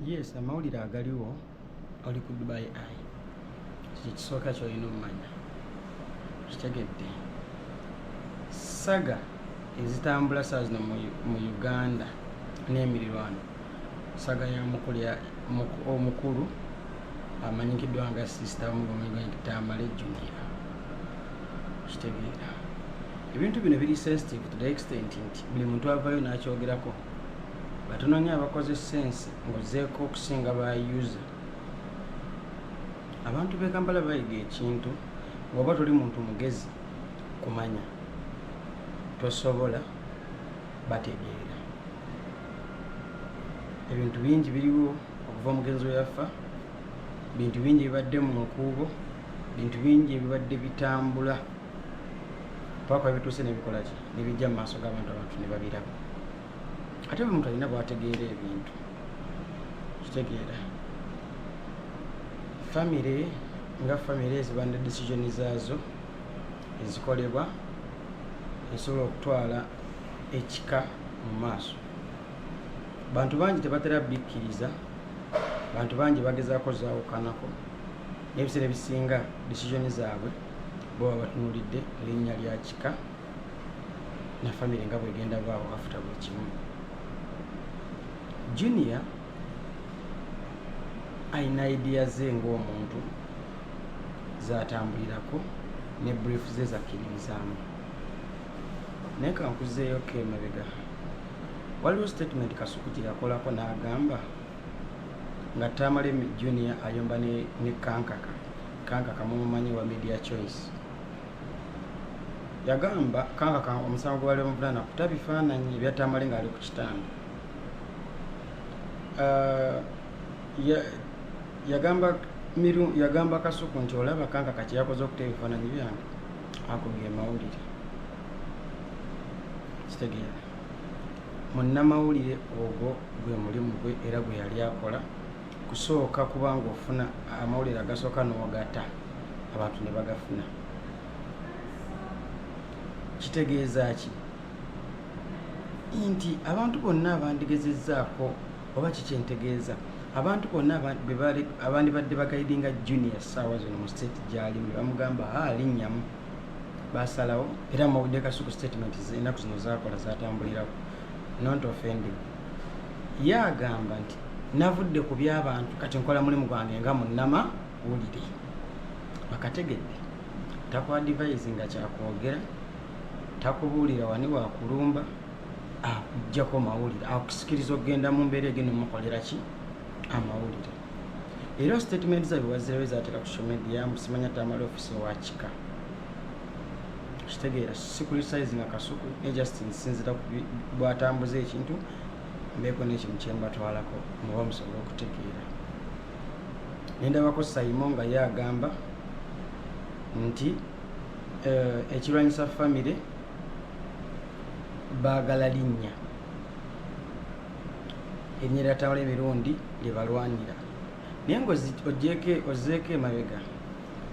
yes amawulire agaliwo oli ku dubai ai kiki kisooka kyolina omumanya kitegedde saga ezitambula saa zino mu uganda n'emirirwano saga ya mukulya omukulu amanyikiddwa nga sisita mugomegantamale junia kitegeera ebintu bino biri sensitive to the extent nti buli muntu avayo n'akyogerako batunonya abakoze sense muzeeko okusinga ba user abantu bekampala bayiga ekintu ngaoba toli muntu mugezi kumanya tosobola bategeera ebintu bingi biriwo okuva omugenzi weyaffa bintu bingi bibadde mu nkuubo bintu bingi ebibadde bitambula paka bituuse nebikolaki nebijja mu maaso g'abantu abantu ne babiraba ate buli muntu alina bwategeera ebintu kitegeera famire nga famire eziba ne decision zaazo ezikolebwa esobola okutwala ekika mu maaso bantu bangi tebatera bikkiriza bantu bangi bagezaako zaawukanako n'ebiseera ebisinga decision zaabwe bo babatunulidde linnya lya kika na famire nga bwegenda baawo afuta buli kimu junior alina idea ze ngaomuntu zatambulirako ne brief ze zakkiririzaamu naye kankuzeeyo ko emabega waliwo statement kasuku gye yakolako n'agamba nga tamalemi junior ayomba ne kankaka kanka kamumumanyi wa media choice yagamba kanka ka omusango gwali omuvulana kuta bifaananyi ebyatamale ngaali ku kitanda uh, yagamba miru yagamba kasuku nti olaba kanka kakyeyakoze okuta ebifaananyi byange akubye mawulire kitegeera munnamawulire ogwo gwe mulimu gwe era gwe yali akola kusooka kuba ngaofuna amawulire agasooka n'ogata abantu ne bagafuna kitegeeza ki nti abantu bonna abandigezezzaako oba kikyentegeeza abantu bonna abandibadde bagaidinga junior saawa zino mu state gyalimu ne bamugamba alinnyamu basalawo era mawulire kasuku statement enaku zino zakola zatambulirako not offending ye agamba nti navudde ku byabantu kati nkola mulimu gwange nga munama wulire bakategedde takwadivayizi nga kyakwogera takubuulira wani wakulumba akujjako mawulire akusikiriza okugenda mu mbeera egenda omukolera ki amawulire era statement zabe wazirawo ezateeka ku social media musimanya tamala ofisi owakika kitegeera sikulisize nga kasuku ne just nsinzira bwatambuza ekintu mbeeko n'ekintu kye mbatwalako muba musobola okutegeera ne ndabako sayimo nga ye agamba nti eh, ekirwanyisa famire baagala linnya erinnya lyatawala emirundi lye balwanira naye nga ojeeko emabega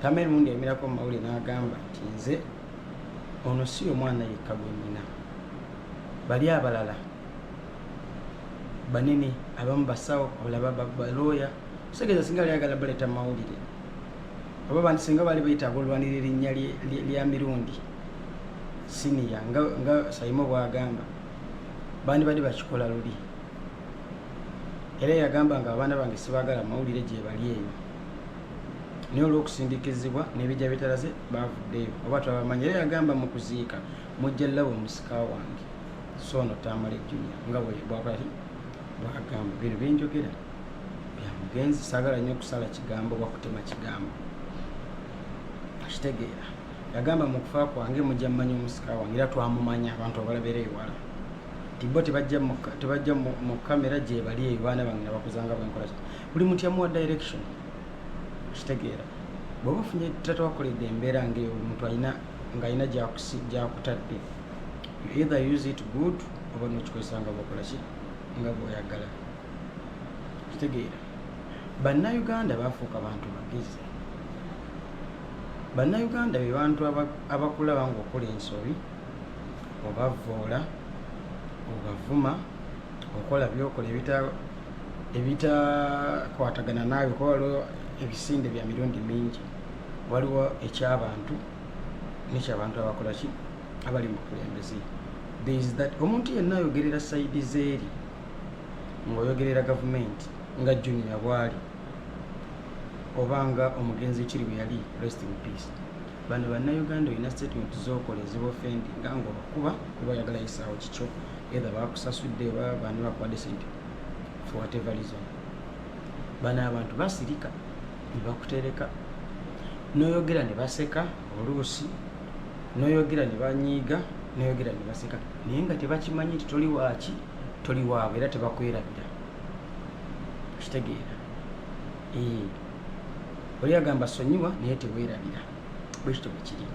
tamera mundi yamirako mu mawulire n'agamba nti nze ono si omwana yekka gwe nnina bali abalala banene abamu basawo abalaba balooya osegeeza singa ali agala baleeta mawulire oba bantu singa bali bayitaaga olwanira erinnya lya mirundi siniya nga sayimo bwagamba bandibadde bakikola luli era yagamba nga abaana bange sibagala mawulire gyebali eyo naye olw'okusindikizibwa n'ebijja bitalaze baavuddeyo oba twabamanyi era yagamba mu kuziika mujja labo musika wange so ono tamale junia nga bwakolaki bwagamba bino byenjogera byamugenzi saagala nnyo okusala kigambo oba kutema kigambo akitegeera yagamba mu kufa kwange mujja mumanya omusika wange era twamumanya abantu abalabera ewala tibbo tebajja mu kamera gyebali eyo baana bange nabakuzanga bwenkola buli mutya muwa direction kitegeera bwoba ofunye tatawakoledde embeera ngaeyo omuntu alina ngaalina gyakutadde either use it good oba nokikozesa nga bwakola ki nga bwoyagala kitegeera bannauganda bafuuka bantu bagezi bannauganda be bantu abakulaba nga okola ensobi obavvoola obavuma okola byokola ebita ebitakwatagana naawe kuba waliwo ebisinde bya mirundi mingi waliwo ekyabantu nekyabantu abakolaki abali mu bukulembeze thereis that omuntu yenna ayogerera saidi zeeri ngaoyogerera gavumenti nga junior bwali oba nga omugenzi ekiri bwe yali rest in peace Bano bannayuganda olina statement zokola ezibofendi nga nga obakuba kuba oyagala yisaawo kikyo either bakusasudde oba bani bakuwadde sente for whatever reason bano abantu basirika nebakutereka noyogera ne baseka oluusi noyogera ne banyiiga noyogera ne baseka naye nga tebakimanyi nti toli waaki toli waabwe era tebakwerabira okitegeera oli agamba sonyiwa naye tewerabira bwekityo bwekiri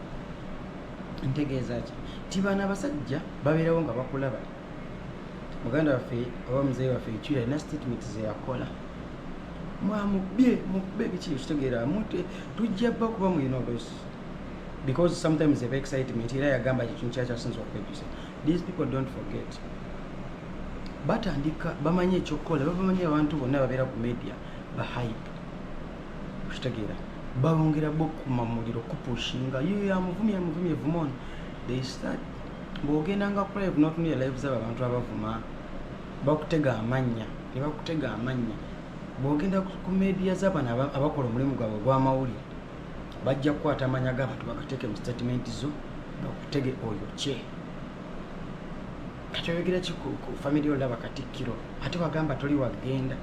ntegeeza ki ti baana abasajja babeerawo nga bakulaba muganda waffe oba muzeyi waffe ekyuyo alina statement zeyakola mwamubye mukube biki ekitegeera mute tujja bba kuba mulina olusi because sometimes eba excitement era yagamba kyekintu kyakyasinza okwejusa these people don't forget batandika bamanyi ekyokukola babamanyi abantu bonna babeera ku media bahayibu okitegeera balongera bokuma muliro kupushinga yo yamuvumi yamuvumi evuma ono they start bwogenda nga kulive notunira live zabo abantu abavuma bakutega amannya nebakutega amannya bwogenda ku media zabano abakola omulimu gwabwe ogwamawulire bajja kukwata amanya gabantu bagateeke mu statement zo bakutege oyo kye kati oyogera ki ku family olaba katikkiro ate wagamba toli wagenda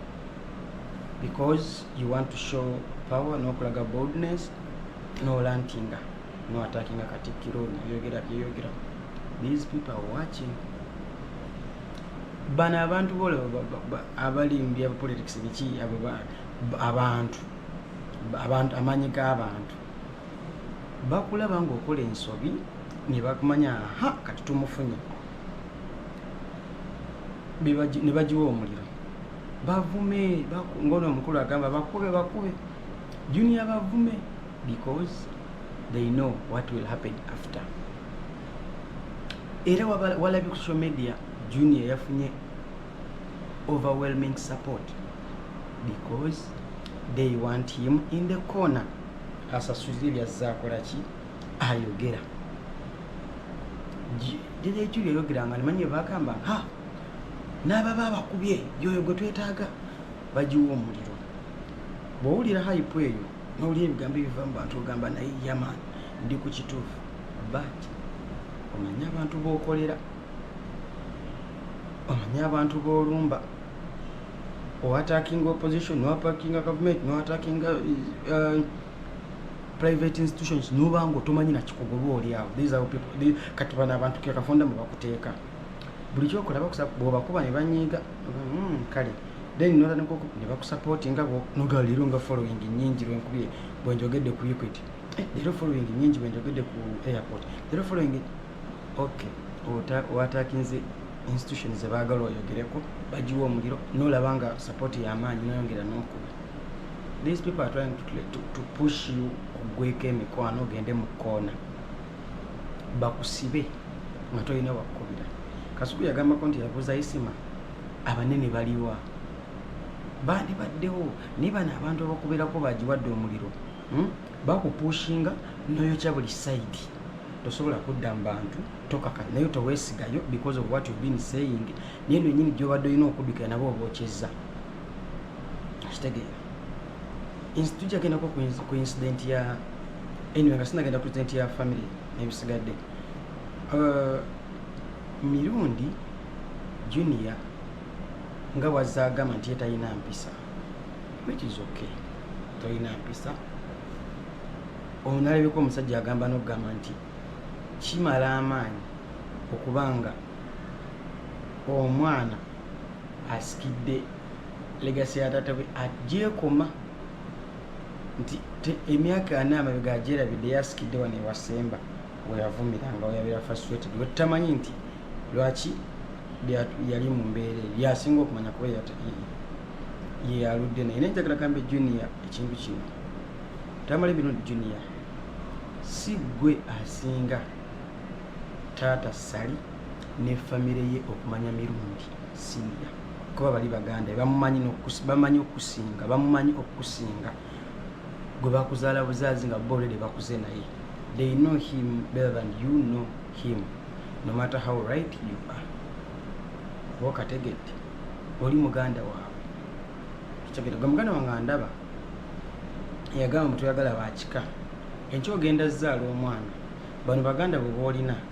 because you want to show power nokulaga boldness nolantinga no attackinga katikkiro ono yogera byeyogera these people are watching bano abantu bola abalimbya politics biki abantu abantu amaanyi g'abantu bakulaba ngaokola ensobi nebakumanya ha kati tumufunye nebagiwa omuliro bavume ngono omukulu agamba bakube bakube junior bavume because they know what will happen after era walabye ku social media junior yafunye overwhelming support because they want him in the corner asasulire byazzakola ki ayogera gyekyo lyeyogeranga nimanye bagamba ha n'ababa abakubye yoyo gwe twetaaga bagiwa omuliro bw'owulira hayipu eyo n'owulira ebigambo ebiva mu bantu ogamba naye yaman ndi ku kituufu but omanye abantu b'okolera omanye abantu b'olumba owatakinga opposition nowapakinga gavumenti nowatakingga uh, private institutions noba nga otomanyi nakikugoba oli awo kati bano abantu kekafonda mwebakuteeka buli kyokola bwobakuba nebanyiiga hmm, kale then notandika nebakusapoti nga noga leero nga following nyingi lwenkubye bwenjogedde ku equity eh, leero following nyingi bwenjogedde ku airport leero following ok watakinze institution zebagala oyogereko bagiwa omuliro nolaba nga support yamaanyi noyongera nokuba these people are trying to, to, to push you ogweko emikwano ogende mu koona bakusibe nga tolina wakukubira kasuku yagambako nti yabuuza isima abanene baliwa bandi baddewo naye bano abantu abakubeerako bagiwadde omuliro hmm? bakupushinga noyokya buli saidi tosobola kudda mu bantu tokaka naye towesigayo because of what you've been saying naye nonyini gyobadde olina okuddukira nabo obwokyezza kitegeera tujja gendako ku incident ya anyway nga sinagenda ku incident ya family nebisigadde uh, mirundi junior nga wazza agamba nti ye talina mpisa which is okay talina mpisa onalabika omusajja agamba nokugamba nti kimala amaanyi okubanga omwana asikidde legasi ya taata we agyekoma nti emyaka ana amabega agyerabidde yasikidde wano ewasemba weyavumiranga weyabeera faswetd wetutamanyi nti lwaki yali mu mbeera eyo yasinga okumanya kuba yeyaludde naye naye njagala gamba junior ekintu kino tamale bino junior si gwe asinga taata sali ne famire ye okumanya mirundi singa kuba bali baganda bamumanyi bamanyi okusinga bamumanyi okusinga gwe bakuzaala buzaazi nga bolede bakuze naye they know him better than you know him no matter how right you are oba okategedde oli muganda waabwe ekyogedde gwe muganda wange andaba eyagamba mutuyagala bakika enkyo ogenda zaala omwana bano baganda bwe boolina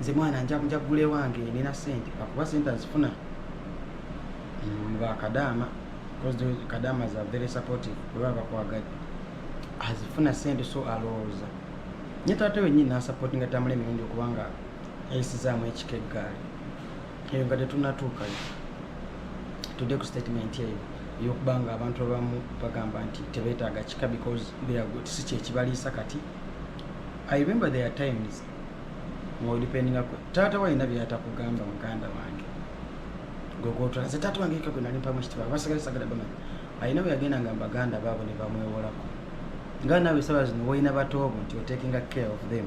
nze mwana njakuja gule wange nina sente akuba sente azifuna bakadaama kadaama za very supportive weba bakwagadde azifuna sente so alowooza nye taata wenyini nasapotinga tamula emirundi okubanga ayisizaamu ekika eggaali eyo nga tetunatuukayo tudde ku statement eyo eyokubanga abantu abamu bagamba nti tebetaaga kika because si kyekibaliisa kati i remember their times mwodipendinga ku taata walina byatakugamba muganda wange gogotwala ze taata wange eka gwe nali mpamu ekitibwa abasigale sagala bamanya alina bwe yagenda nga baganda baabo ne bamwewolako nga naawe esaba zino wolina batoobo nti otakinga care of them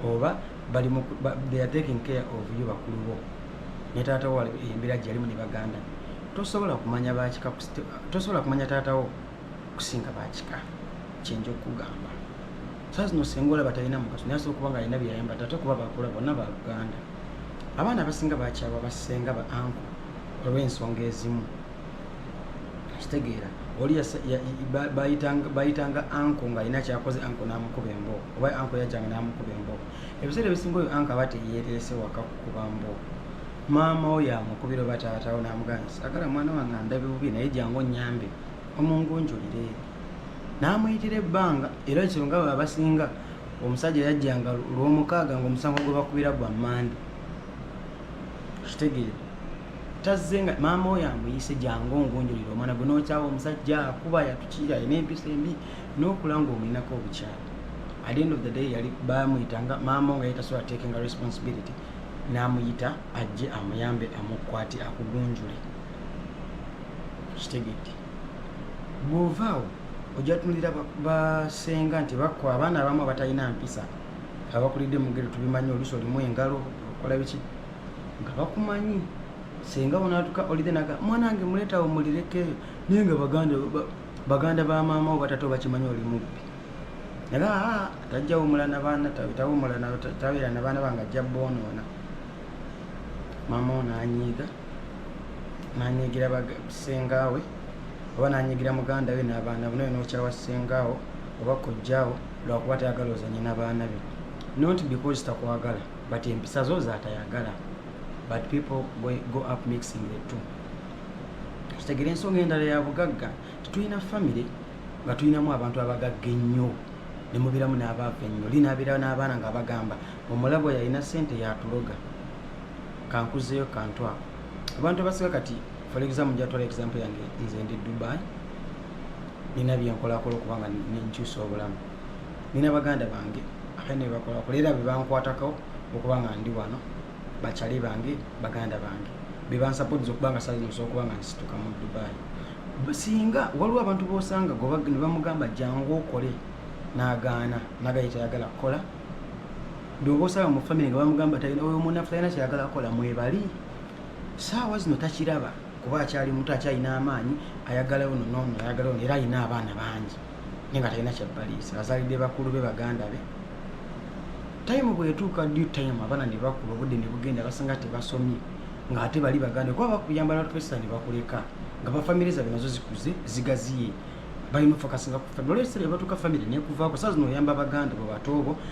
oba bali they are taking care of you bakulu bo ne taata wo embeera gyeyalimu ne baganda tosobola kumanya bakika tosobola kumanya taata wo okusinga bakika kyenja okugamba saa zino senga olaba talina mugaso naye asobola kuba nga alina byeyayambadde ate kuba bakula bonna ba uganda abaana abasinga bakyalwa basenga ba anko olw'ensonga ezimu kitegeera oli bayitanga anko ng'alina kyakoze anko n'amukuba emboo oba anko yajjanga n'amukuba emboo ebiseera ebisinga oyo anko aba teyeereese waka kukuba mboo maama oyo amukubira oba taatawo n'amugana sagala mwana wange andabe bubi naye jangu onnyambeko omungunjulire n'amuyitira ebbanga era ekyo nga bwe abasinga omusajja yajjanga lwomukaaga ngaomusango gwe bakubira gwa mande kitegeera tazze nga maama oyo amuyise jangu ongunjulire omwana gwe nokyawa omusajja akuba yatukiira ina empisa embi nokula nga omulinako obukyala at the end of the day yali bamuyita nga maama nga yetasobola takinga responsibility namuyita ajje amuyambe amukwati akugunjule kitegedde bwovaawo ojatunulira basenga nti bakwa abaana abamu abatalina mpisa abakulidde mugere tubimanyi olusi olimu engalo okola biki nga bakumanyi senga onatuka olide naga mwanange muletawo mulirekeyo naye nga baganda baganda ba maama wo batata obakimanyi oli mubbi naga ah, tajjawumula nabaana tawumula tabeera nabaana bange ajja bonoona maama ono anyiiga nanyigira sengaawe oba nanyigira muganda we n'abaana be nawe nokyawa sengaawo oba kojjaawo lwakuba tayagala ozanye n'abaana be not because takwagala but empisa zo zatayagala but people go up mixing the two kitegera ensonga endala ya bugagga tetulina famire nga tulinamu abantu abagagga ennyo nemubiramu n'abaava ennyo linaabirawo n'abaana nga bagamba omulabo yalina sente yatuloga kankuzeyo kantu ako abantu abasiga kati for example njatwala example yange nze ndi dubai nina byenkolakola okubanga nenkyusa obulamu nina baganda bange ate nebakolakola era bebankwatako okubanga ndi wano bakyali bange baganda bange bebansapotiza okubanga sainosa okubanga nsituka mu dubai singa waliwo abantu bosanga nebamugamba jangu okole nagaana nagaye tayagala kukola byoba osaba mu famire nga bamugamba talina oyo munafu talina kyayagala kukola mwebali saawa zino takiraba kuba akyali muto akyalina amaanyi ayagala ono nono ayagala ono era alina abaana bangi naye nga talina kyabbaliisa azalidde bakulu be baganda be tayimu bwetuuka due time abaana ne bakula obudde ne bugenda basanga tebasomye ng'ate bali baganda kuba bakuyamba natupesa ne bakuleka nga bafamire zabwe nazo zikuze zigaziye balina ofakasinga ku famire olwekisera ebatuuka famire nekuvaako saa zino oyamba baganda bwe batoobo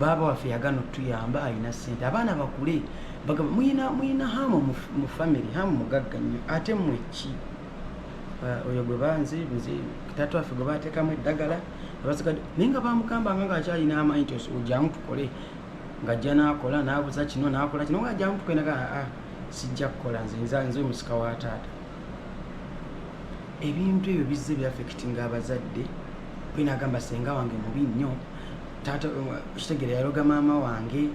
baaba waffe yagana otuyamba alina sente abaana bakule bagamba muyina muyina hamu mu famiry hamu mugagga nnyo ate mwe ki uh, oyo gwe banze nze tata waffe gwe bateekamu eddagala abasigade naye nga bamugambanga nga akyalina amaanyi ti ojamu tukole ngajja nakola nabuza kino nakola kino nga ajamu tukole naga aa ah, ah, sijja kukola nze nza nze omusika wa taata ebintu ebyo bizze byafekitinga abazadde kwenagamba senga wange mubi nnyo taata kitegere yaloga maama wange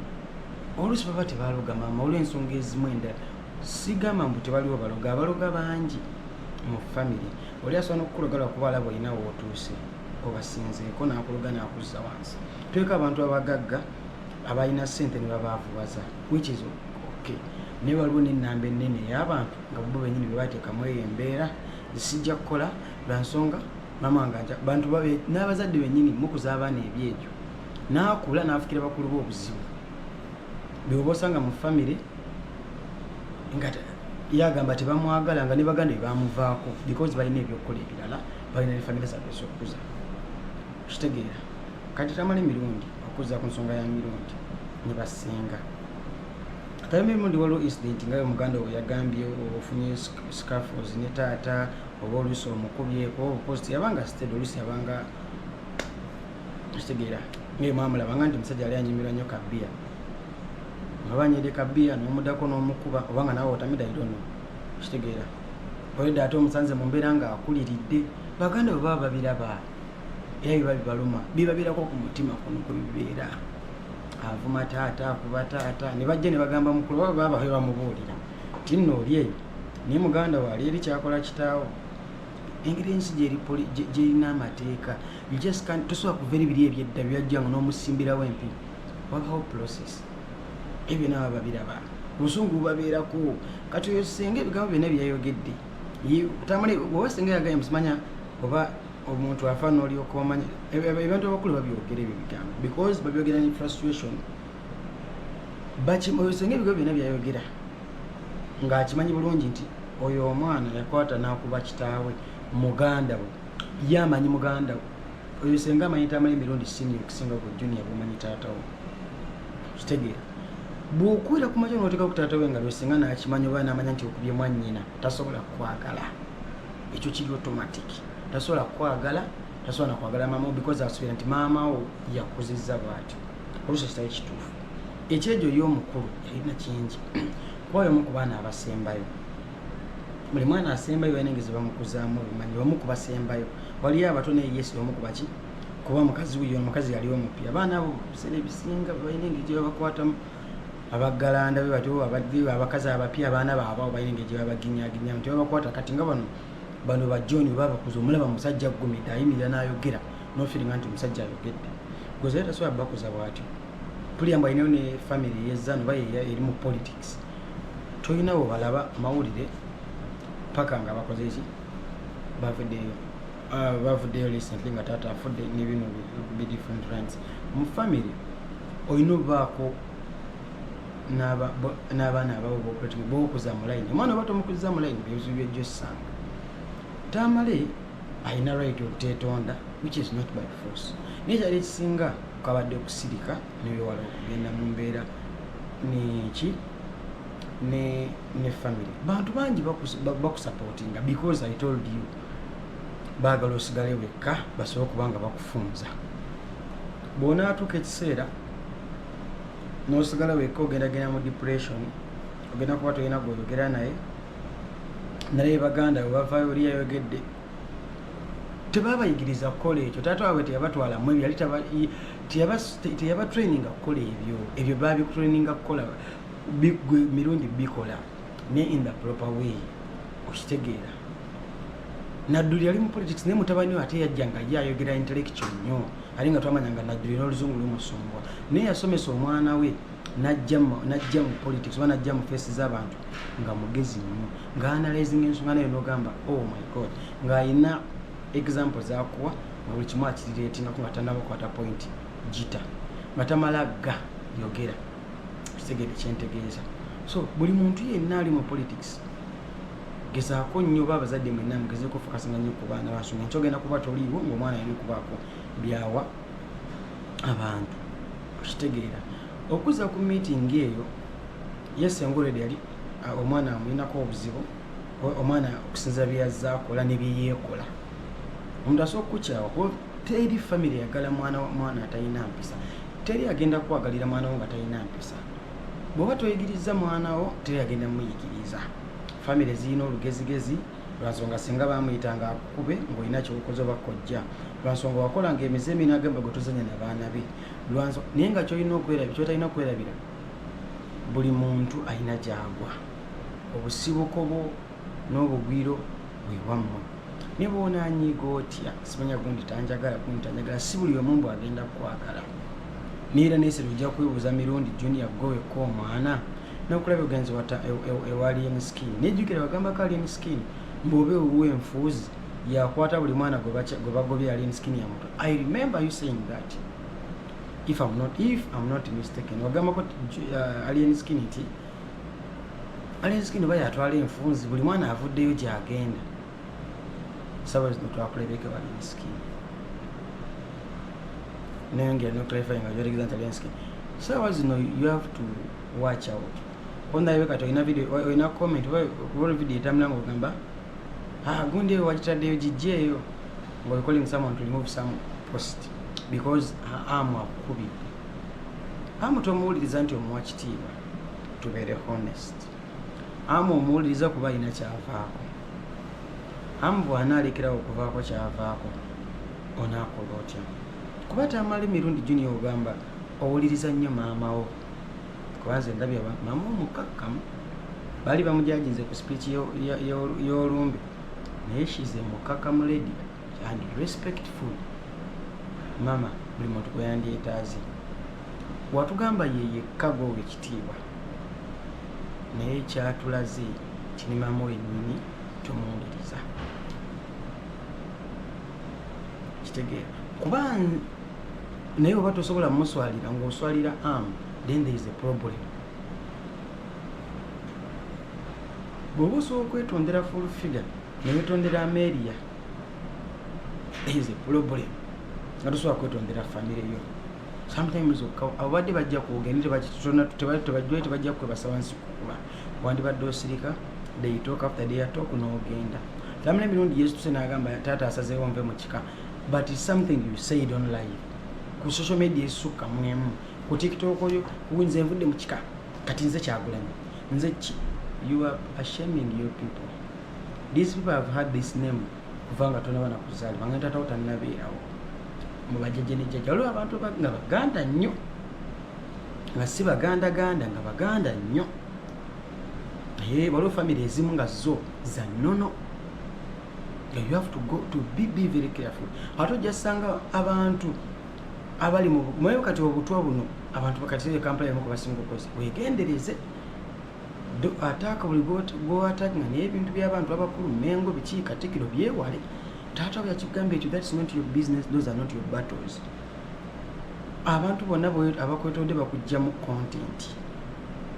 oluusi baba tebaloga maama olw'ensonga ezimu endala sigamba mbu tebaliwo baloga abaloga bangi mu famiry oli asobola nokukuloga lwakuba alaba olina wootuuse obasinzeeko nakuloga nakuzza wansi tuleka abantu abagagga abalina sente nebabaavubaza which is okay naye waliwo nenamba enene eyabantu nga bo benyini bebateekamu eyo embeera zisijja kukola lwansonga mama nga aja bantu babe n'abazadde bennyini mukuza abaana ebyejo n'akula n'afukira bakulu be obuzibu beoba osanga mu famire nga yagamba tebamwagala nga ne baganda bebamuvaako because balina ebyokukola ebirala balina ne famire zabwe ezokukuza kitegeera kati tamala emirundi okuza ku nsonga ya mirundi ne basinga kayambe mundi waliwo incident nga yo muganda owe yagambye ofunye scaffos ne taata oba oluusi omukubyeko obukozi teyabanga sitede oluusi yabanga kitegeera ngaye mwamulabanga nti omusajja yali anyimirwa nnyo kabiya aba nyede kabiya nomudako nomukuba oba nga nawe otamida idono kitegeera oyedde ate omusanze mu mbeera nga akuliridde baganda bwe baba babiraba era biba bibaluma bibabeerako ku mutima kuno kwe bibeera avuma taata akuba taata ne bajja ne bagamba mukulu baba baba babamubuulira nti nno oli eyo naye muganda wo ali eri kyakola kitaawo engeri ensi gyerina amateeka tosobola kuva eri biri ebyedda byajjanga n'omusimbirawo empi wabawo process ebyo nabo babiraba obusungu bubabeerako kati oyo senga ebigambo byonna byeyayogedde obasenga yagaye musimanya oba omuntu afa nolyoka omanya ebintu abakulu babyogera ebyo bigambo because babyogera ne frustration bakimoyo senga ebigo byona byayogera ng'akimanyi bulungi nti oyo omwana yakwata n'akuba kitaawe muganda we ye amanyi muganda we oyo senga amanyi tamala emirundi sini okusinga ku junia bwomanyi taata we kitegeera bwokuwera ku majo noteka ku taata we nga lwesinga n'akimanyi oba n'amanya nti okubye mwannyina tasobola kukwagala ekyo kiri otomatic tasobola kukwagala tasobola nakwagala maama wo because asuubira nti maama wo yakuzizza bwatyo oluusi kitali kituufu ekyejo yo omukulu yalina kingi kubayo omu ku baana abasembayo buli mwana asembayo balina engezi bamukuzaamu obumanyi omu ku basembayo waliyo abato naye yesu omu ku baki kuba mukazi wuyo omukazi yali omupi abaana abo biseera ebisinga balina engeri gye babakwatamu abaggalanda be batyo abakazi abapya abaana baabwe abo balina engeri gye babaginyaginya nti babakwata kati nga bano bano ba john webabakuza omulaba musajja aggumidde ayimirira n'ayogera nofiringa nti omusajja ayogedde gwezayo tasobola bakuza bwatyo puliya mbu alinayo ne famiry yezanu oba eri mu politics tolinawo balaba mawulire paka nga bakoze ki bavuddeyo ah, bavuddeyo recently nga taata afudde nebino be different runs mu famiry olina obaako n'abaana abawe bokuletuma bokuza mu layini omwana oba tomukuziza mu layini byebizibu byojja osanga tamale alina right okutetonda which is not by force naye kyali ekisinga kwabadde okusirika newewala okugenda mu mbeera neki ne ne family bantu bangi bakusapotinga because i told you baagala osigale wekka basobole okuba nga bakufunza bwonaatuuka ekiseera nosigala wekka ogendagenda mu depression ogenda kuba tolina gwoyogera naye naye baganda webavayo oli yayogedde tebabayigiriza kukola ekyo taata wabwe teyabatwalamu ebyo yali teyabatraininga kukola ebyo ebyo babitraininga kukola gwe mirundi bikola ne in the proper way okitegeera nadduli yali mu politics naye mutabani we ate yajja nga ye ayogera intellectual nnyo ali nga twamanya nga najjuli n'oluzungu lumusumbwa naye yasomesa omwana we najja mu politics oba najja mu fesi z'abantu nga mugezi nnyo nga analyzing ensonga nayo nogamba oh my god ng'alina example zakuwa nga buli kimu akirireetingako nga tanabakwata point gita nga tamala ga yogera kitegede kyentegeeza so buli muntu yenna ali mu politics gezaako nnyo oba abazadde mwenna mugezeeko ofokasanga nnyo ku baana basoma nkyogenda kuba toliiwo ngaomwana yali kubaako byawa abantu okitegeera okuza ku meeting eyo yesengolede yali ah, omwana amulinako obuzibu omwana okusinza byeyazza akola ne byeyeekola omuntu asobola okukukyawa kuba teri famiry yagala mwana atalina mpisa teri agenda kukwagalira mwana wo nga talina mpisa bwoba toyigirizza mwana wo teyagenda muyigiriza famire zirina olugezigezi lwansonga singa bamuyita nga akukube ngaolina kyokoze oba kojja lwansonga wakola nga emize eminagamba gwetuzanya nabaana be naye nga kyotalina okwerabira buli muntu alina gyagwa obusibuko bwo n'obugwiro bwewammwe ne bwonanyiiga otya simanya gundi tanjagala gundi tanjagala si buli omu mbu agenda kukwagala Neera nesera ojja kwebuuza mirundi junior gwe wekka omwana nokulaba ogenze wata e, e, ewa alien skin nejjukira bagambako alien skin mbobe owuwo enfuuzi yakwata buli mwana gwe bagobye alien skin ya muto i remember you saying that if am not if am not mistaken wagambako uh, alien skin nti alien skin oba yatwala enfuunzi buli mwana avuddeyo gyagenda sawa zino twakulebeke wali miskin naye ngira no clarifying nga gyotegeza nti alienskin sawa zino you have to watch out ondabe kati olina video olina comment wol video etamula nga ogamba ah, gundi eyo wagitaddeyo gijja eyo nga oikolling someone to remove some post because amu akukubidde amu tomuwuliriza nti omuwa kitiibwa tubeere honest amu omuwuliriza kuba alina kyavaako amu bwanaalekerawo okuvaako kyavaako onaakola otya kuba tamali mirundi junior ogamba owuliriza nnyo maamawo kubanze ndabya maama omukakkamu bali bamujajinze ku speech y'olumbe naye shize mukakkamu lady and respectful mama buli muntu gweyandyetaaze watugamba yeyekka gwowa ekitiibwa naye kyatulaze kinimamu wenyini tomuwuliriza kitegeera kuba naye oba tosobola muswalira ngaoswalira am then there is a problem bwoba osobola okwetondera full figure newetondera ameria is a problem nga tosobola kwetondera famire yo sometimes ababadde bajja kwogende tebajjwe tebajja kukwebasa wansi kukuba wandibadde osirika they talk after they talk n'ogenda lamula emirundi yesu tuse n'agamba taata asazeewo nve mu kika but is something you said on live ku social media esukka mwemu ku tiktok oyo kuwinza envudde mu kika kati nze kyagulanyi nze ki you are ashaming your people These people have had this name kuva nga tonaba nakuzaalibwa nga taatawo tannabeerawo mu bajjajja ne jjajja waliwo abantu nga baganda nnyo nga si baganda ganda nga baganda nnyo naye waliwo famire ezimu nga zo za nnono you have to go to be, be very careful ate ojjasanga abantu abali mweyo kati obutwa buno abantu bakati kampala yamu kubasinga okozi wegendereze ataaka buli gwewataaka nga naye ebintu byabantu abakulu mengo biki katikiro byewale taata we yakigamba ekyo thats not your business those are not your battles abantu bonna abakwetodde bakugjamu content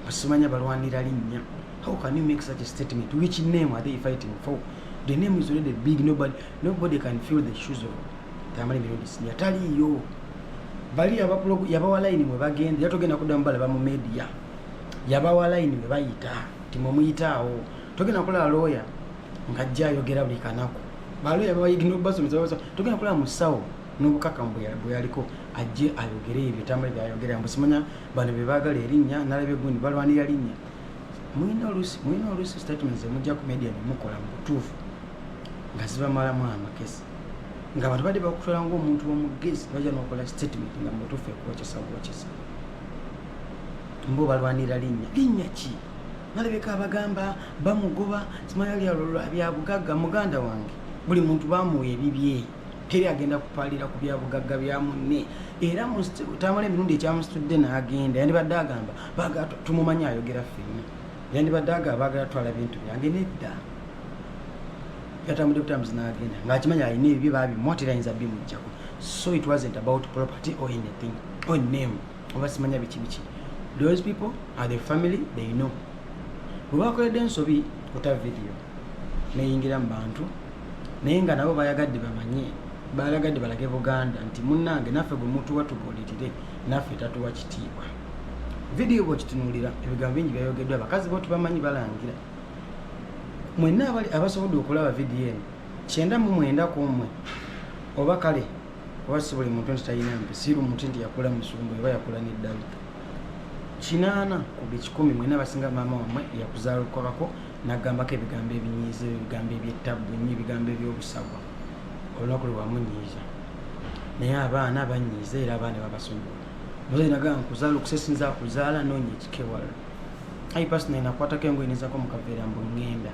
basimanya balwanira linnya how can you make such a statement which name are they fighting for the name is already big nobody, nobody can feel the shoes of tamale mirundi sinya taliyo bali yabawa layini mwe bagenda yatogenda kuddamu balaba mu media yabawa layini bwe bayita nti mwe muyitaawo togenda kulaba looya ng'ajja ayogera buli kanaku balooya babayigina okubasomesa babasa togenda kulaba musawo n'obukakamu bwe yaliko ajje ayogere ebyo bitambule byayogera mbu simanya bano bye baagala erinnya nalaba egundi balwanira linnya mulina oluusi mulina oluusi statement zemujja ku media nemukola mu butuufu nga zibamalamu amakesi nga abantu badde bakutwala ngaomuntu wamugezi baja nokola statement nga mutufu ekwokesa bwokesa mbo balwanira linnya linnya ki nalabeka abagamba bamugoba simayalyalolwabyabugagga muganda wange buli muntu bamuwa ebibye teri agenda kupalira ku byabugagga bya munne era tamala emirundi ekyamusitudde n'agenda yandibadde agamba tumumanyi ayogera fenna yandibadde agamba bagala twala bintu byange nedda yatambudde butambuzi n'agenda ng'akimanyi alina ebibye baabimwa terayinza bimujjako so it wasn't about property or anything or name oba simanya biki biki those people are the family they know bwe bakoledde ensobi kuta video neyingira mu bantu naye nga nabo bayagadde bamanye balagadde balage buganda nti munnange naffe gwe mutuwa tubuulirire naffe tatuwa kitiibwa vidiyo bwekitunuulira ebigambo bingi byayogeddwa abakazi bo tubamanyi balangira mwenna abali abasobodde okulaba vidiyo eno kyenda mu mwenda ku mmwe oba kale oba si buli muntu nti talina mpi siru muti nti yakula musumbu oba yakula neddalu kinaana ku buli kikumi mwena abasinga maama wammwe yakuzaalukabako nagambako ebigambo ebinyiiza ebigambo ebyettabbu ennyo ebigambo ebyobusagwa olunaku lwe wamunyiiza naye abaana banyiiza era abaana babasonyiwa muze nagamba nkuzaalukuse sinza kuzaala noonya ekikewalala ayi pasita naye nakwatako engoye nezako mukaveera mbu ŋŋenda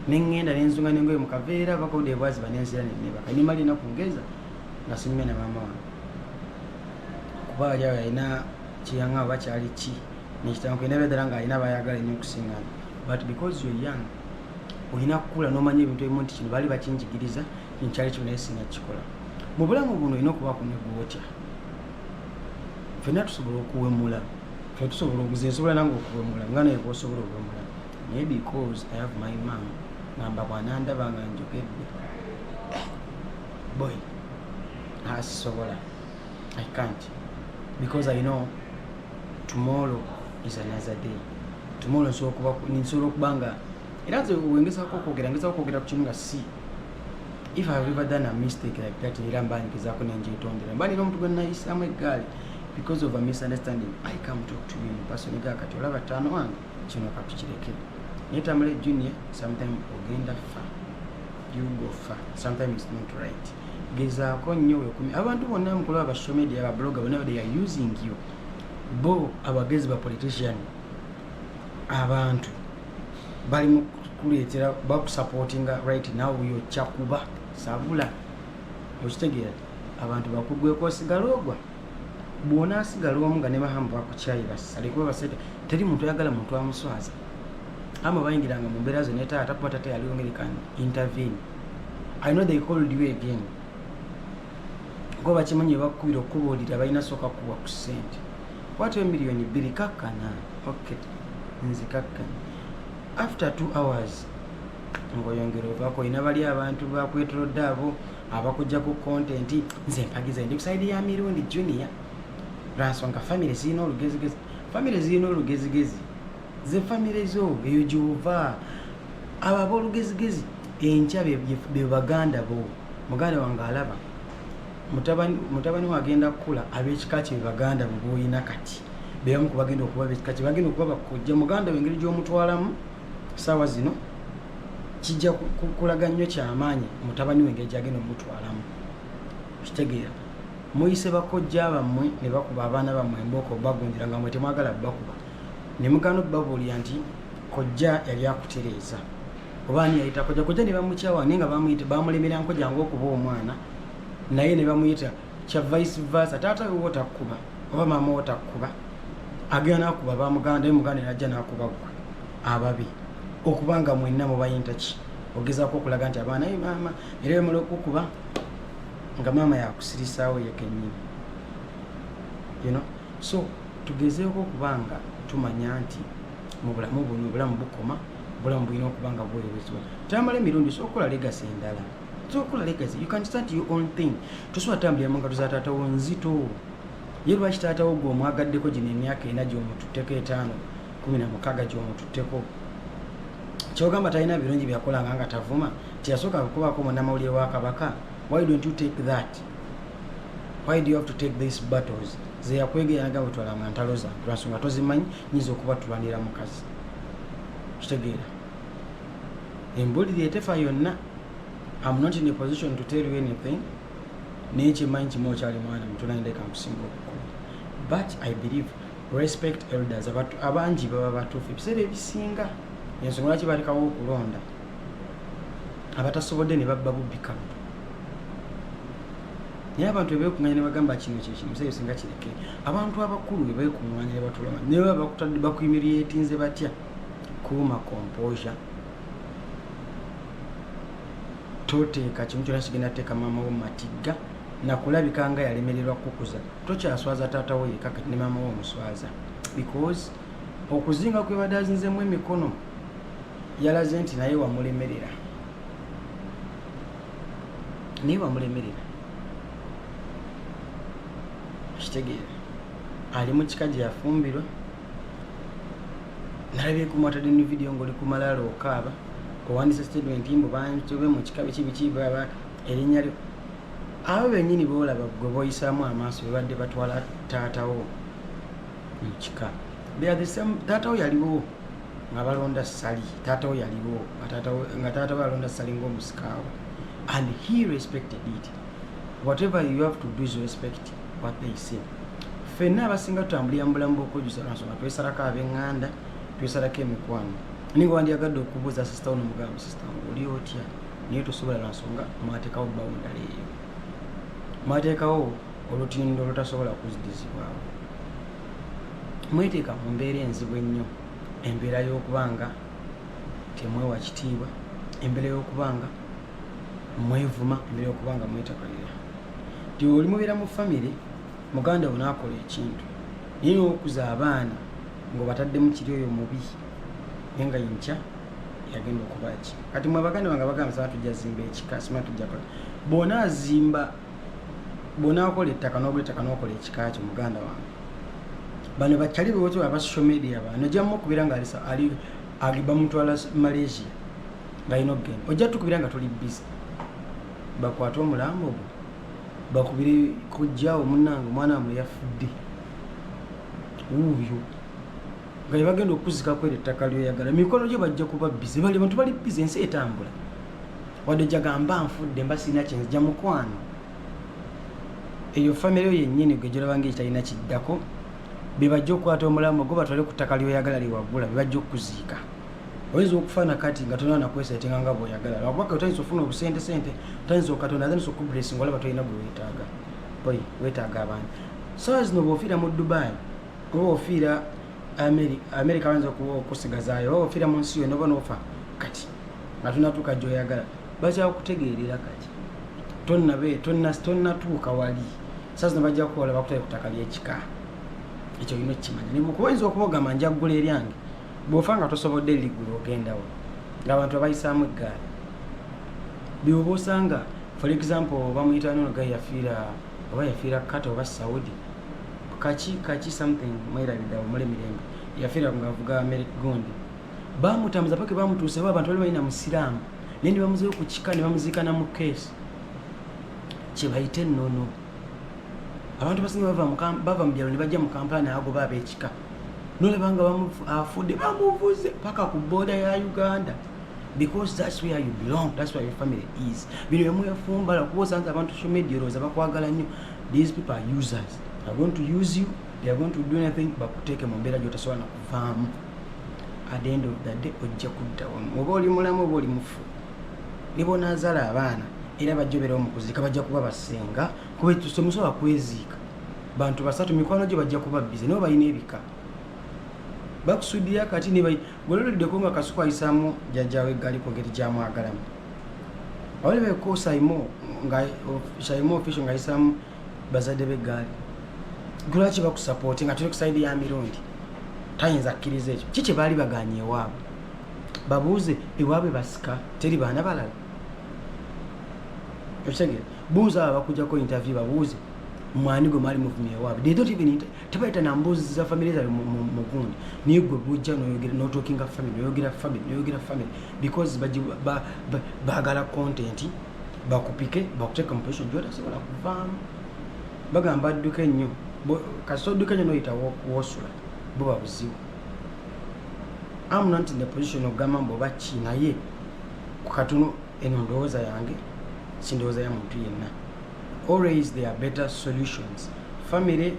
neŋŋenda nenzunga nengoye mukaveera bakauda ebwaziba nenzira nenebaka nimala enaku ngeza nga sinyume na maama wange kuba ali awo yalina kyeyaŋa oba kyali ki nekitanku ena bedala nga alina bayagala nyo okusingana but because yo young olina kukula nomanya ebintu ebimu nti kino baali bakinjigiriza nkyali kino naye sina kikola mu bulamu buno olina okubaako negwotya fenna tusobola okuwemula ffe tusobola obuze nsobola nange okuwemula nga naye bwosobola okuwemula naye because i have my mam ngamba bwanandaba nga njogedde eh, boy asisobola ah, i can't because i know tomorrow is another day tomorrow nsobola okuba nga era nze wengezako okwogera ngezako okwogera ku kimu nga si if i have ever done a mistake like that era mba ngezaako nenjetondera mba nina omuntu gwenayisaamu eggaali because of a misunderstanding i come talk to you in person ga kati olaba tano wange kino katukireke naye tamale junior sometime ogenda fa you go fa sometime is not right gezaako nnyo wekumi abantu bonna mukulu aba social media aba blogger bonna they are using you bo abagezi ba politician abantu bali mu kuleetera bakusupportinga right now yokyakuba sabula okitegeera abantu bakugweko osigala ogwa bwonaasigala omu nga ne bahamu bakukyayi basale kuba basete teri muntu ayagala muntu amuswaza ama bayingiranga mu mbeera zonna etaata kuba tata yaliwo ngeri kan intervene i know they called you again kuba bakimanyi ebakukubira okukubuulira balina sooka kuwa ku ssente kwata emiliyoni bbiri kakkana ok nze kakkana after two hours ngoyongera ovako olina bali abantu bakwetolodde abo abakujja ku kontenti nze mpagiza ndi kusaidi ya mirundi junior lwansonga famiry zirina olugezigezi famiry zirina olugezigezi ze famiry zo eyo gyova abo abolugezigezi enkya bebaganda bo muganda wange alaba mutabani wagenda kukula abekika kye bebaganda bo boyina kati bebamu kubagenda okuba bekika kye bagenda okuba bakujja muganda wengeri gyomutwalamu saawa zino kijja kulaga nnyo kyamaanyi mutabani we engeri gyagenda omutwalamu kitegeera muyise bakojja bammwe ne bakuba abaana bammwe embooko bagunjira nga mwe temwagala bakuba ne mugana obabuulira nti kojja yali akutereeza oba ani yayita kojja kojja ne bamukyawa naye nga bamulemera nkoja ngaokuba omwana naye ne bamuyita kya vice versa taata we wotakuba oba maama wotakuba agenda nakuba bamuganda naye muganda najja nakuba gwe ababi okubanga mwenna mubayinta ki ogezako okulaga nti abaana ye maama era bemala okukuba nga maama yakusirisaawo yekenyini you know so tugezeeko okubanga tumanya nti mu bulamu buno obulamu bukoma obulamu bulina okubanga buweerezebwa tamala emirundi sokola legasi endala tokola legacy you can start your own thing tosobola tambulira mu ngalo za taata wo nzito ye lwaki taata wo gwe omwagaddeko gino emyaka ena gyomututteko etaano kumi na mukaaga gyomututteko kyogamba talina birungi byakolanga nga tavuma tiyasooka kukubaako munamawulire wa kabaka why don't you take that why do you have to take these battles zeyakwegeyanaga bwetwalanga ntalo zange lwansonga tozimanyi nyinza okuba tulwanira mukazi kitegeera embuliri etefa yonna I'm not in a position to tell you anything naye kyemanyi kimu okyali mwana mutunaindeka nkusinga okukulu but i believe respect elders abangi baba batuufu ebiseera ebisinga ensonga lwaki balekawo okulonda abatasobodde ne babba bubbi kabu naye abantu ebekunganya nebagamba kino kyekimusee singa kireke abantu abakulu bebekunganya nebatulama nebaba bakuyimiriyetinze batya kuuma composure toteeka kimu kyona kigenda teeka maama wo matigga nakulabika nga yalemererwa kukuza tokyaswaza taata wo yeka kati ne maama wo omuswaza because okuzinga kwebadde azinzemu emikono yalaze nti naye wamulemerera naye wamulemerera kitegeera ali mu kika gye yafumbirwa nalabye kumwatadde ne vidiyo ngaoli ku malaalo okaaba owandisa statement mbu bantobe mu kika biki biki baba erinnya lyo abo bennyini boolaba gwe boyisaamu amaaso bebadde batwala taatawo mu kika taatawo yaliwo nga balonda sali taatawo yaliwo nga taatawo yalonda sali ngaomusikaawo and he respected it whatever you have to do is respect wapeyise fenna abasinga tutambulira mu bulamu bwokwejusa lwansonga twesalako abenganda twesalako emikwano naye nga wandyagadde okubuuza sisita wo nomugambo sisita oli otya naye tosobola lwansonga mwatekawo bawundala eyo mwatekawo olutindo olutasobola kuzidizibwawo mweteeka mu mbeera enzibu ennyo embeera y'okuba nga temwewa kitiibwa embeera y'okuba nga mwevuma emere okuba nga mwetakalira ti oli mubeera mu famiry muganda wo naakola ekintu naye nokuza abaana ngaobataddemu kiri oyo mubi naye nga yinkya yagenda okubaki kati mwe abaganda bange abagamba saa tujja zimba ekika sima tujja kola bona azimba bona akola ettaka nogula ettaka nokola ekika kyo muganda wange bano bakyali bewotoba aba social media bano jamu okubeera nga ali agibamutwala malaysia balina okugenda ojja tukubira nga tuli bizi bakwate omulambo ogwo bakubire kojjawo munange omwana wamwe yafudde wuuyo nga yebagenda okuzika kwera ettaka lyoyagala mumikono gyo bajja kuba bize bali bantu bali bize ensi etambula wadde jagamba nfudde mba sirina kyenzija mukwano eyo famire yo yennyini gwe gyolabanga ekitalina kiddako bebajja okukwata omulamu gwo batwale ku ttaka lyoyagala lyewagula bebajja okukuziika oyinza okufa nakati nga tolina nakwesetinga nga bwoyagala lwakuba otayinza ofuna obusente sente otayinza okatonda atandisa okublesi nga olaba tolina gwewetaaga oy wetaaga abantu saa zino bwofiira mu dubai oba ofiira amerika bayinza okusigazayo oba ofiira mu nsi yona oba nofa kati nga tonatuuka gyoyagala bakyakutegeerera kati tonatuuka wali saa zino bajja kukola bakutale ku ttaka lyekika ekyo olina okukimanya nekuba oyinza okubogamba njagula eryange bwofa nga tosobodde ligulu ogendawo ngaabantu abayisaamu eggaali byoba osanga for example bamuyita nono ga yafiira oba yafiira kata oba saudi kaki kaki something mwerabidawo muli mirembe yafiira ngaavuga merik gundi bamutambuza paka bamutuusewo abantu bali balina musiraamu naye nebamuzeyo ku kika nebamuziikana mu keesi kyebayite nono abantu basinga bava mu byalo nebajja mu kampala naagoba abekika nolaba nga afudde bamuvuze paka ku boda ya uganda because that's where you belong that's where your family is bino byemuyafumbala kuba osanze abantu social media olowooza bakwagala nnyo these people are users they're going to use you they're going to do anything bakuteeke mu mbeera gyotasobola nakuvaamu at the end of the day ojja kuddawo oba oli mulamu oba oli mufu ne bonaazala abaana era bajja obeerawo mu kuzika bajja kuba basinga temusobola kweziika bantu basatu mikwano gye bajja kuba bize nabo balina ebika bakusudiya kati gwelolideko nga kasuku ayisamu jajawe gali kugeri gyamwagalamu awalibeko saimo nga saimo official nga ayisamu bazadde begaali lwaki bakusapooti nga tuli kusaidi ya mirundi tayinza kukkiriza ekyo ki kyebaali baganye ewaabwe babuuze ewaabwe basika teri baana balala okitegere buuza abo abakujako interview babuuze mwani gwe mwali muvumye ewaabwe they don't even tebayita na mbuuzi za family zabe mugundi naye gwe bujja noyogera notokinga family noyogera family noyogera family because bagala content bakupike bakuteka mu position gyotasobola kuvaamu bagamba adduke nnyo kasita odduke nnyo noyita wosula bo babuzibu am not in the position okugamba mbu oba ki naye kukatono eno ndowooza yange sindowooza ya muntu yenna always there are better solutions family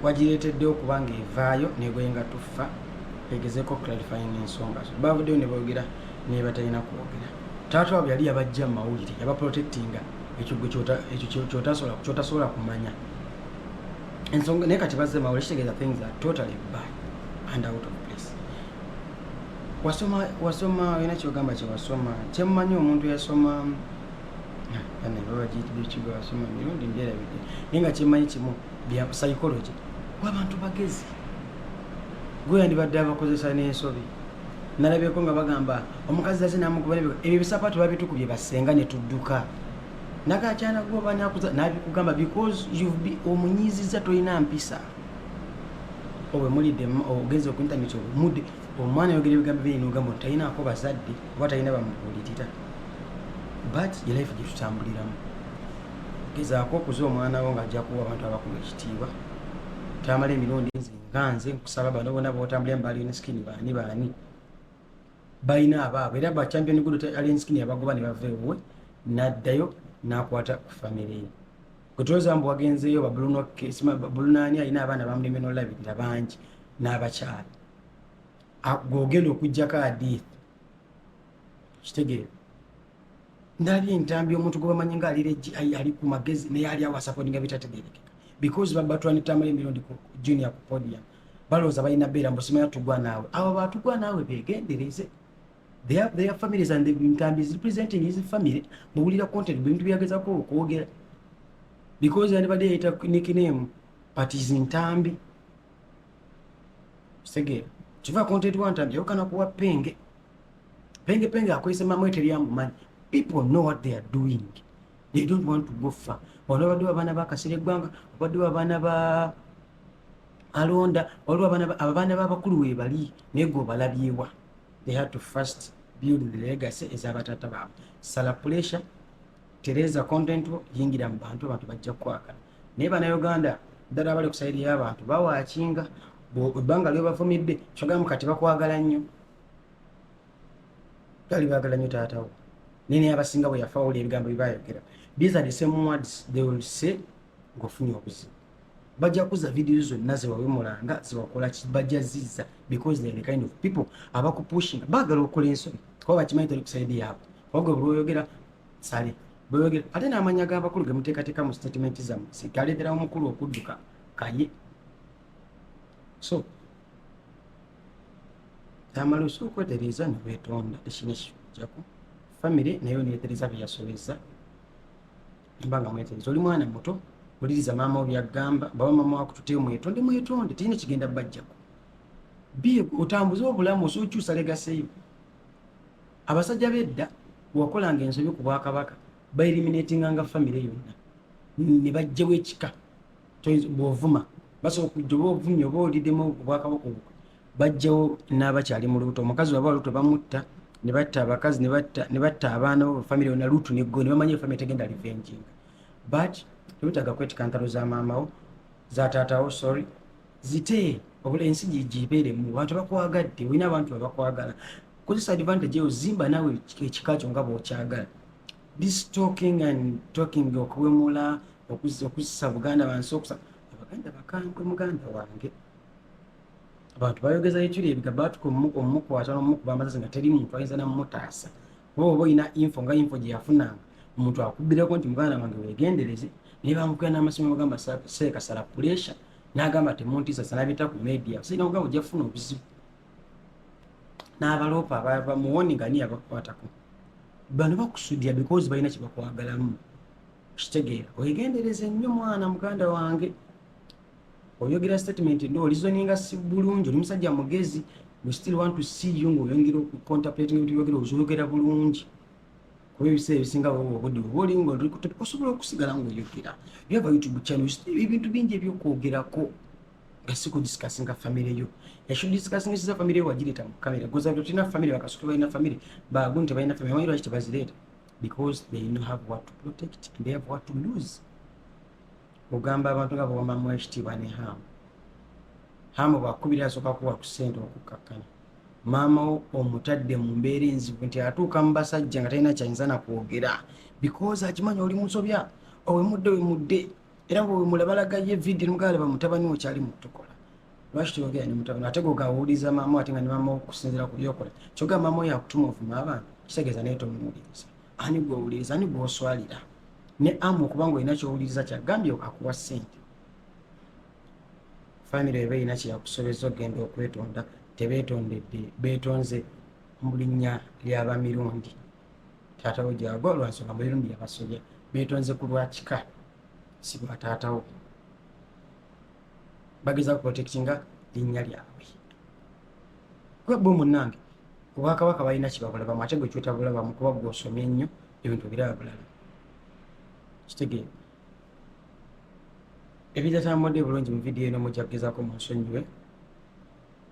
wagireetedde okuba nga evaayo nebwenga tuffa egezeko clarifying ensonga zo bavuddeyo ne boogera nebatalina kwogera taata wabwe yali yabajja mu mawulire yabaprotectinga ekyo kyotasobola kyotasobola kumanya ensonga naye kati bazze mawulire kitegeeza things are totally bad and out of place wasoma wasoma olina kyogamba kyewasoma kyemumanyi omuntu yasoma anebabagitbekigwasoma mirundi mbyerabidde naye nga kyemanyi kimu bya psychology wabantu bagezi gwe yandibadde abakozesa n'ensobi nalabyeko nga bagamba omukazi aze namukuba ebyo bisapaatu babitukubye basenga netudduka nagakyana gwoba nabikugamba because omunyiziza tolina mpisa owe mulide ogenze ku internet omude omwana yogera ebigambo bye no gambo tayina ako bazadde oba tayina bamubulitita but ye life je tutambuliramu geza ko kuzo omwana wo ngaja kuwa abantu abakulu ekitiba tamale milondi nzi nganze kusaba bano bona bo tambulira mbali ne skin bani bani bayina aba era ba champion gudu alien skin abagoba ne bavewe naddayo nakwata ku family Kutuloza mbu wagenzeyo babuluno kesima babuluno ani alina abaana bamuleme nolabirira bangi n'abakyala gwogenda okujjako adith kitegeera ndabye entambi omuntu gwebamanyi nga ali ku magezi naye ali awasapodinga bitategerekeka because babatwanitamayo emirundi ku junior ku podium balowooza balina beera mbusimanya tugwa naawe abo batugwa naawe begendereze their, their families and the Ntambi is representing his family muwulira content bintu byagezako okwogera because yandibadde yayita nickname but is Ntambi segera kiva content wa Ntambi yawukana kuwa penge penge penge akozesa mamwete lyamumanyi people know what they are doing they don't want to go far wano babadde babaana bakasira eggwanga babadde babaana ba alonda waliwo abaana babakulu webali naye gwe obalabyewa they had to first build the legacy ezabatata baabwe sala pressure tereza content yingira mu bantu abantu bajja kukwagala naye banauganda ddala abali kusayiri y'abantu bawakinga ebbanga lyobavumidde kyogamu kati bakwagala nnyo gali bagala nnyo taatawo naye naye abasinga bwe yafa wawulira ebigambo byebayogera these are the same words they will say ng'ofunye obuzibu bajja kuza video zonna zewawemulanga zewakola bajja ziza because they're the kind of people abakupushinga bagala okola ensoni kuba bakimanyi toli kusaidi yaabwe kubagwe bulwoyogera sale bweyogera ate n'amanya g'abakulu gemuteekateeka mu statement zamu sigalederawo mukulu okudduka kaye so tamala osobola okwetereeza newetonda ekinekijako famire naye oneetereza byeyasobeza mba nga mwetenzi oli mwana muto oliriza maama obyagamba baba mama wakutute mwetonde mwetonde teyina kigenda bajjako bi otambuze obulamu osokyusa legaseyo abasajja bedda wakolanga ensobi ku bwakabaka baeliminatinga nga famire yonna ne bajjewo ekika bwovuma basobola okujja oba ovumye oba olidemu obwakabaka obwo bajjawo n'abakyali mu lubuto omukazi waba olubuto bamutta ne batta abakazi ne batta abaana bo famire yona lutu neggo ne bamanya efamire tegenda livenjinga but tebetaaga kwetika ntalo za maamawo za taatawo sorry zite obula ensi gibeeremu abantu bakwagadde olina abantu babakwagala kozesa advantage eyo zimba naawe ekika kyo nga bwokyagala this talking and talking okuwemula okuzisa buganda bansi okusa abaganda bakambwe muganda wange abantu bayogeza ekiri ebiga batuka omumukwata nomukuba amasasi nga teri muntu ayinza namumutaasa oba oba olina info nga info gyeyafunanga omuntu akubbireko nti muganda wange wegendereze naye bamukuya n'amasomo bagamba seekasala puresha n'agamba temuntiisa sanabita ku media sirina kugamba ojja kufuna obuzibu n'abaloopa bamuwoni nga niye abakukwatako bano bakusudira because balina kyebakwagalamu kitegeera wegendereze nnyo mwana muganda wange oyogera statement ndo olizoninga si bulungi oli musajja mugezi we still want to see you nga oyongera okucontemplating ebintu byogera ozoyogera bulungi kuba ebiseera ebisinga baba obudde oba oli nga oli kutopi osobola okusigala nga oyogera yaba youtube channel ebintu bingi ebyokwogerako nga si kudiscussinga famire yo yashould discussing esiza famire yo wagireta mu kamera goza nti otina famire bakasuka balina famire bagu nti balina famire amanyi lwaki tebazireeta because they know have what to protect and they have what to lose ogamba abantu nga bawamamu ekitiibwa ne hamu hamu bwakubira asooka kuwa ku ssente okukkakkana maama wo omutadde mu mbeera enzibu nti atuuka mu basajja nga talina kyayinza nakwogera bikozi akimanya oli musobya owemudde wemudde era wemulabalagayo evidiyo nomugala bamutabani okyali mutukola lwaki toyogera ne mutabani ate gwogawuliza maama ate nga ne maama okusinzira ku byokola kyoga maama oyo akutuma ovuma abantu kitegeeza naye tomuwuliriza ani gwowuliriza ani gwoswalira ne amu okubanga olina kyowuliriza kyagambye akuwa sente famire eba erina kyeyakusobeza okugenda okwetonda tebetondedde betonze mu linnya lyabamirundi taatawo gyago lwansonga mumirundi yabasobya betonze ku lwakika si lwa taatawo bageza kuprotektinga linnya lyabwe gwe bo munange obwakabaka balina kibabulabamu ate gwe kyotabulabamu kuba gwe osomye nnyo ebintu biraba bulala kitegeera ebitatambudde bulungi mu vidiyo eno mujja kugezako munsonyiwe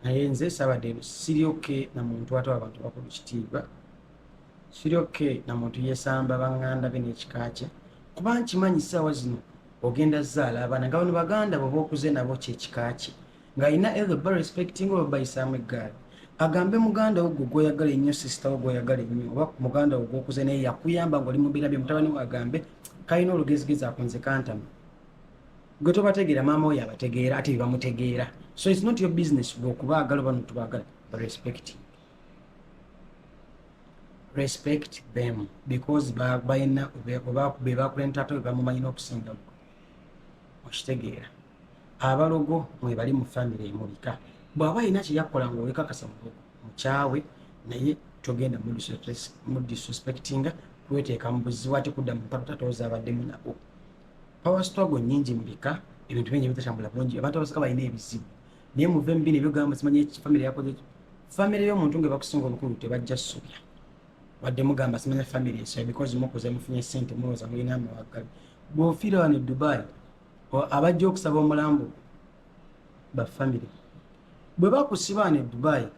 naye nze sabadde siri oke na muntu ate abantu bakulu kitiibwa siri oke na muntu yesamba banganda be n'ekika kye kuba nkimanyi ssaawa zino ogenda zaala abaana nga bano baganda bwe baokuze nabo kyekika kye nga alina either ba respecting oba bayisaamu eggaali agambe muganda wo gwe gwoyagala ennyo sisita wo gwoyagala ennyo oba muganda wo gwokuze naye yakuyamba ngaoli mubiira bye mutabani we agambe kalina olugezigezi ako nze kantama gwe tobategeera maama oyo abategeera ate bebamutegeera so its not your business gwe okubaagala oba notubagala respect respect them because balina bebakulentata bebamumanyi n'okusinga okitegeera abalogo mwebali mu famire emubika bwaba alina kyeyakola nga olekakasa mukyawe naye togenda mudisrespectinga kweteeka mu buzibu ate kudda mu mpaka tatooza abaddemu nabo power struggle nyingi mubika ebintu bingi bitatambula bulungi abantu abasika balina ebizibu naye muve mu bino ebyogamba simanyi famire yakoze famire y'omuntu nga bakusinga obukulu tebajja subya wadde mugamba simanya famire esoya because mukuze mufunye sente muwoza mulina amawaggabi bwofiira wano edubai abajja okusaba omulambo bafamire bwe bakusibaana edubayi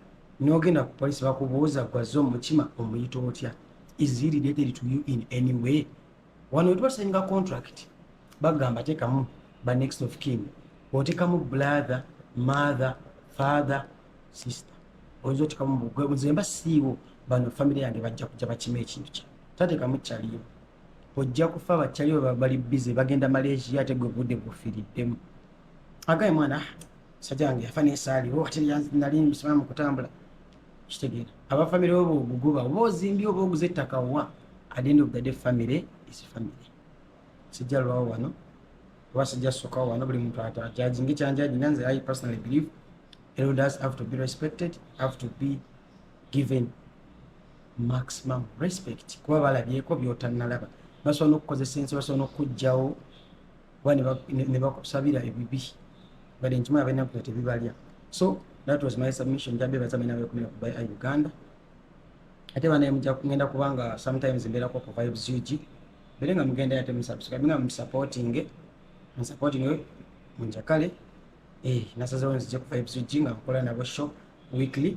nogenda ku polisi bakubuuza gwaze omutima omuyita otya is he related to you in any way wano wetubasainga contract bagamba tekamu ba next of kin otekamu brother mother father sister oyinza otekamu mugwe nzemba siiwo bano famire yange bajja kuja bakima ekintu kya tatekamu kyaliyo ojja kufa bakyali oba bali bize bagenda malaysia ate gwe budde bufiriddemu agaye mwana sajja wange yafa nesaali o ate nali musiramu kutambula kitegeera aba famire oba oguguba oba ozimbye oba oguze ettaka wa at the end of the day famire is famire sijja lwawo wano oba sijja sokawo wano buli muntu atajaji ngekyanjaji nanze i personally believe elders have to be respected have to be given maximum respect kuba balabyeko byotanalaba basobola nokukozesa ensi basobola nokujjawo oba nebakusabira ebibi bade nkimaa benakuta tebibalya so that was my submission jabebazamenabekumira kuba a uganda ate banaye muja kugenda kubanga sometimes mberako ku vibes ug bere nga mugenda yate musubscribe nga musupporting musupporting munjakale eh nasazewo nzije ku vibes ug nga nkola nabo show weekly